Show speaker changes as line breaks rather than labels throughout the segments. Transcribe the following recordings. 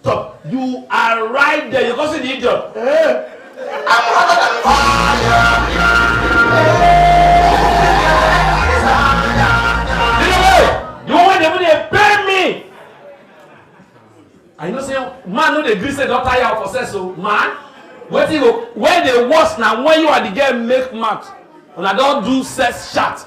Stop. You are right there. You causing the idiot. Eh? I'm hotter than fire. I know say man no dey gree say don tire for sex o man wetin go when dey worse na when you and the girl make mouth una don do sex chat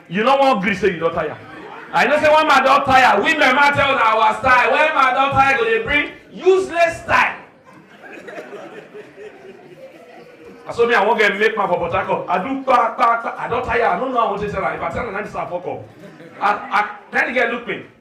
You no wan gree say you don tire. I know say when my don tire, women ma tell una our style. When my don tire go dey bring useless style. Na so me I wan get make man for Port Harcourt. I do pa pa pa. I don tire. I no know how I wan take tell am. If I tell am na this I fuck up. I I then the girl look me.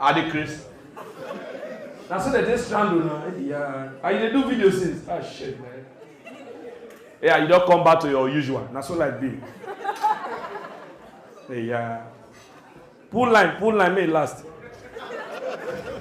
I dey craze. Na so dem take strand una. Yeah. And you dey do video since. Ah shit man. Yeah, you don come back to your usual. Na so life be. Yeah. Pull line, pull line, may e last.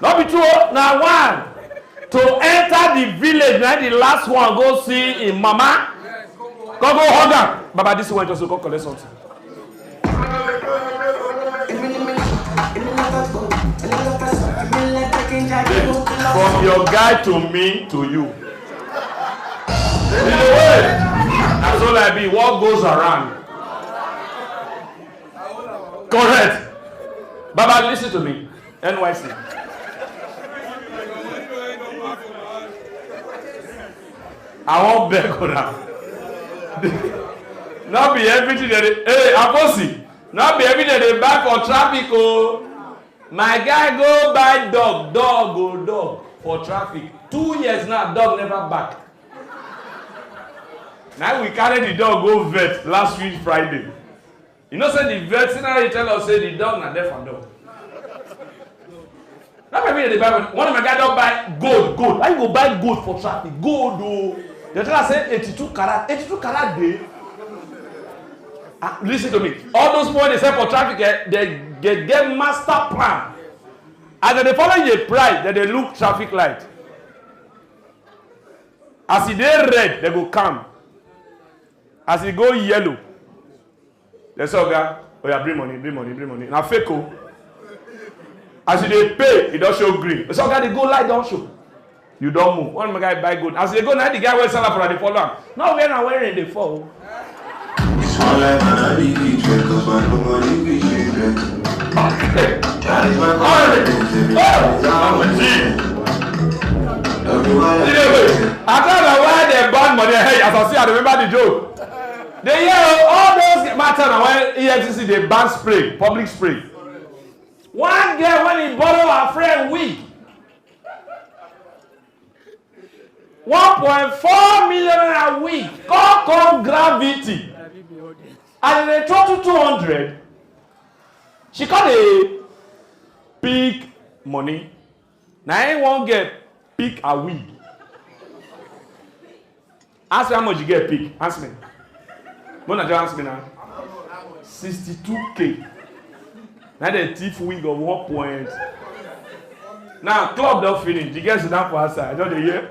no be two o na one to enter the village na the last one go see him mama come go hug am baba this one just go come collect something. from your guy to me to you in a way na so like be what goes around correct baba lis ten to me NYC. I wan beg una. no be everything dey dey hey akosi no be everything dey dey buy for traffic o oh. my guy go buy dog dog o oh, dog for traffic two years now dog never back na we carry the dog go vet last week friday You know say the veterinary tell us say the dog na deaf and dumb. That might be the Bible. One of my guy don buy gold, gold. Why you go buy gold for traffic? Gold o. Oh. They tell us say eighty-two karat, eighty-two karat dey. Ah, listen to me. All those people they sell for traffic, eh, they get, get master plan. As they follow your pride, then they look traffic light. As e dey red, they go calm. As e go yellow, dem say oga oya bring money, bring money, bring money. Na fake o. As you dey pay, e don show green. Dem say oga dey go light don show. You don move. One of my guy buy gold. As e dey go na the guy wey sell am for na dey follow am. No where na where rain dey fall o. It's my life and I be the check, cause my nobody be shit, I tell na why dem ban money hey as I see I remember the joke dey hear oh, all those matter na why EFCC dey ban spray public spray one girl when he borrow her friend wig one point four million naira wig come come gravity As dem dey total two hundred, she come dey pick money. Na im one girl pick her wig. Ask me how much the girl pick. Ask me. Make una just ask me na. Sixty-two k. Na im dem thief wig of one point. Now club don finish, the girl sit down for outside, I just dey hear.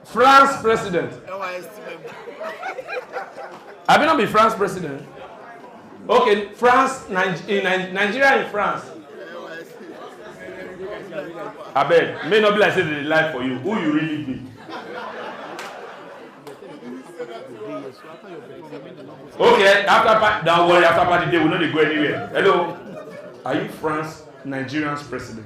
France president. I be not be France president. Okay, France, Nigeria, Nigeria and France. I bet may not be like say they lie for you. Who you really be? Okay, after don't worry, after party day we no dey go anywhere. Hello, are you France, Nigerian's president?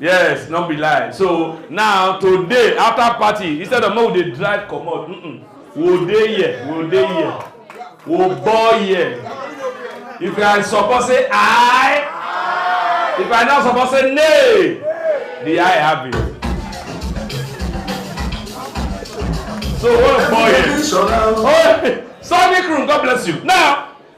yes no be lie so now today after party instead of make we dey drive comot mm -mm, we dey here we dey here we ball here if i support say i if i no support say nay the i have it so we ball here oh sunny crew god bless you now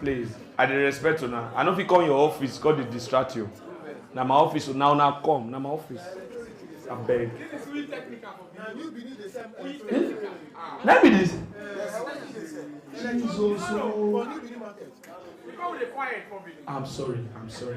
please i dey respect una i no fit come your office come dey distract you na my office una una come na my office abeg. na be this. jesus ooo. i'm sorry i'm sorry.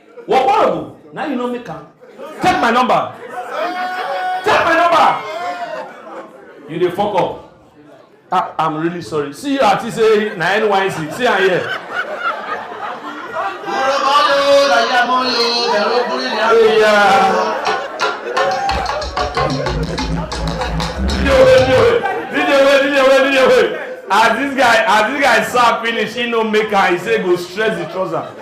What horrible? Now you know me can. Take my number. Take my number. You dey fuck up. Ah, I'm really sorry. See you at say na NYC. See am here. Yeah. as this guy as this guy serve finish he no make am he say go stress the trouser.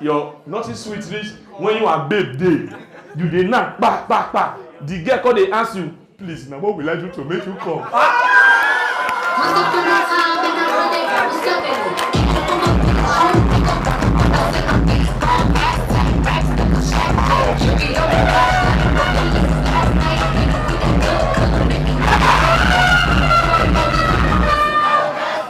your nothing sweet reach when you and babe dey you dey knack kpa kpa kpa the girl come dey ask you please na what will i do to make you come.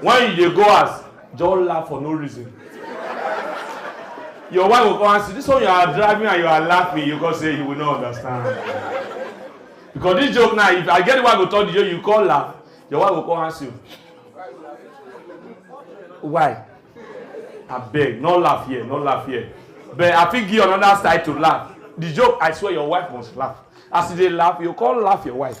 when you dey go house just laugh for no reason your wife go come ask you this one you are driving and you are laughing you go say you will not understand because this joke now if i get the wife go talk the joke you come laugh your wife go come ask you why abeg no laugh here no laugh here but i fit give you another side to laugh the joke i swear your wife must laugh as you dey laugh you come laugh your wife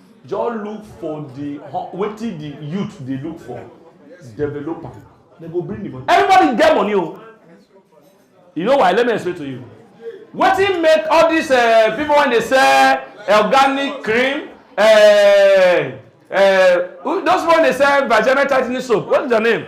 Just look for the wetin the youth dey look for, develop am. They go bring the money. Everybody get money o. Oh. You know why? Let me explain to you. Wetin make all these uh, people when they sell organic cream, uh, uh, those people when they sell vagina tightening soap, what's their name?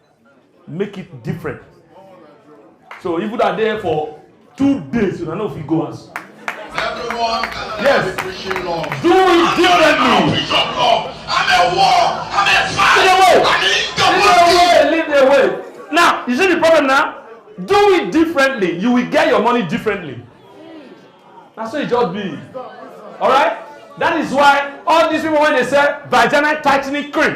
make it different so if una there for two days una no fit go house Everyone can Yes. be preaching love. do it I'm differently preach of love. I'm a war. I'm a fight. Lead the way. I'm in the lead the world. way lead the way now you see the problem now do it differently you will get your money differently na so e just be alright that is why all these people wey dey sell vaginal tightening cream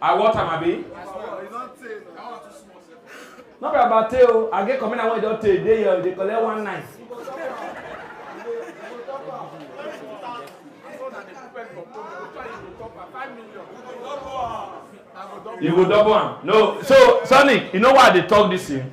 I want am abi. No be about tey o, I get commander wey don tey dey here, dey collect one night. You go double am. No, so Sonny, you know why I dey talk this thing?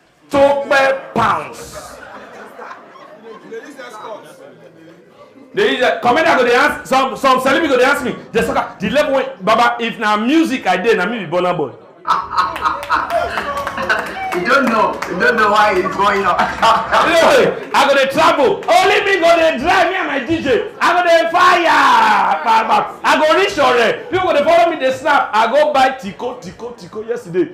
Tope pounds. They use that. Commander go dey ask some some celebrity go dey ask me the soccer the level wey baba if na music I dey na me be Burna Boy. You don't know. You don't know why it's going on. Anyway, I go dey travel. Only me go dey drive me and my DJ. I go dey fire. Pa, pa. I go reach Ore. People go dey follow me dey snap. I go buy Tico Tico Tico yesterday.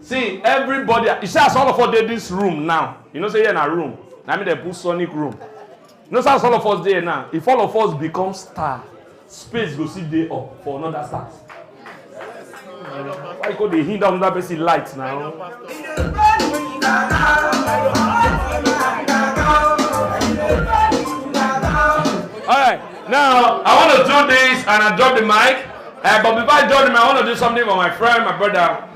see everybody you see as all of us dey this room now you know say here na room na me dey put sonic room you know say as all of us dey here now if all of us become star space go still dey up for another star why you go dey hinder another person light now. All right, now I want to do this and I drop the mic. Uh, but before I drop the mic, I want to do something for my friend, my brother.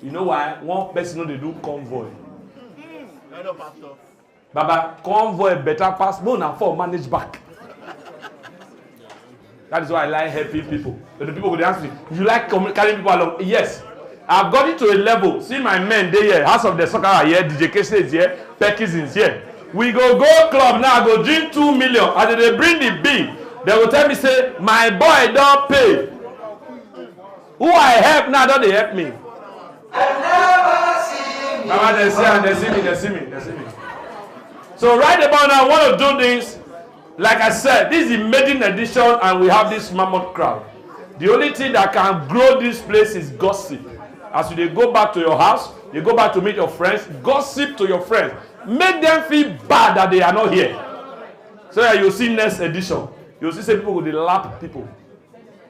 You know why one person no dey do convoy? Hello, Pastor. Baba, convoy better pass more na for manage back. That is why I like helping people. But the people go dey ask me, you like com- carrying people along? Yes. I've got it to a level. See my men dey here, House of the Soccer are here, DJ Kese is here, Perkins is here. We go go club now, I go drink two million. As they dey bring the bill, they go tell me say, my boy don pay. Who I help now don dey help me. Mama, they see and they see me, they see me, they see me. So right about now, I want to do this. Like I said, this is the maiden edition and we have this mammoth crowd. The only thing that can grow this place is gossip. As you dey go back to your house, you go back to meet your friends, gossip to your friends. Make them feel bad that they are not here. So that you see next edition. You see say people go dey lap people.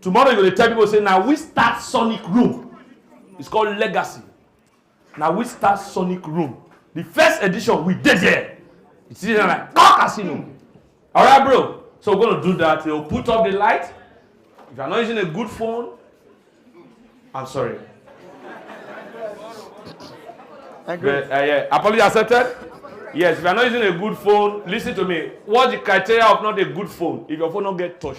tomorrow you go dey tell people say na we start sonic room it's called legacy na we start sonic room the first edition we dey there you see na like ah casino alright bro so we're gonna do that we'll put up the light if you are not using a good phone i'm sorry Thank you. But, uh, yeah. Apology accepted? Yes, if you are not using a good phone, listen to me. What's the criteria of not a good phone? If your phone not get touch.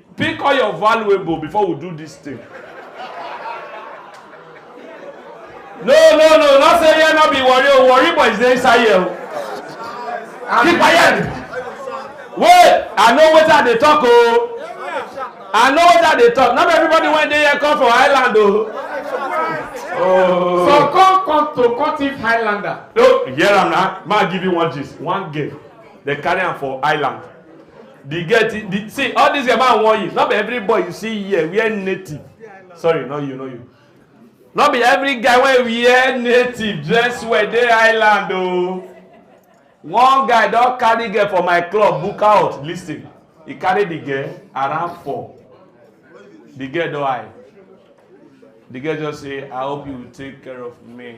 Pick all your valuable before we do this thing. No, no, no, not say here not be worry. Oh, worry boys dey inside here. Oh. Keep quiet. Wait, I know what I dey talk oh. I know what I dey talk. Not everybody when they here come for island oh. Oh. So come come to Cotif Highlander. No, hear am na. Ma give you one gist, one game. They carry am for island. the girl the, the see all these yama wan you no be every boy you see here wear native sorry no you no you no be every guy wey wear native dress well dey island o oh. one guy don carry girl for my club book out lis ten he carry the girl around four the girl don high the girl just say i hope you take care of me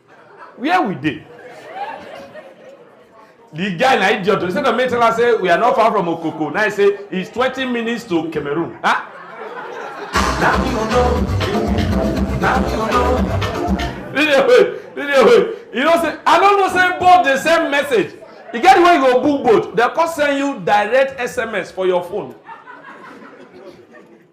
where we dey the guy na idiot instead of me tell am say we are not far from okoko now he say it's twenty minutes to cameroon ah. na me you know na me you know. video wey video wey you know say i no know say both dey send message e get the way you go book boat dem come send you direct sms for your phone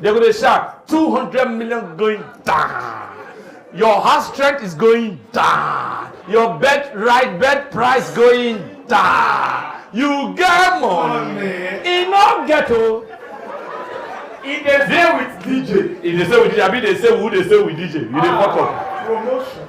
They go dey shout, 200 million going down. Your house strength is going down. Your bed right bed price going down. You get money. E no get o. E dey stay with DJ. E dey stay with DJ. Abi dey stay with who dey stay with DJ? You dey fuck up. Promotion.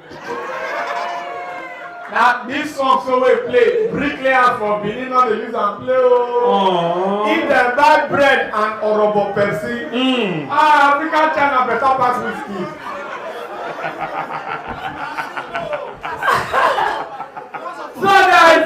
na this song so wey play bricklayers for benin no dey use am play ooo oh. if dem buy bread and orobo pepsi mm. ah african china better pass whiskey. so guys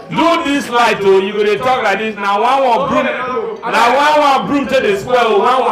do this light o oh, you go dey talk like this na one one broom na one one broom take dey spoil o oh, one one.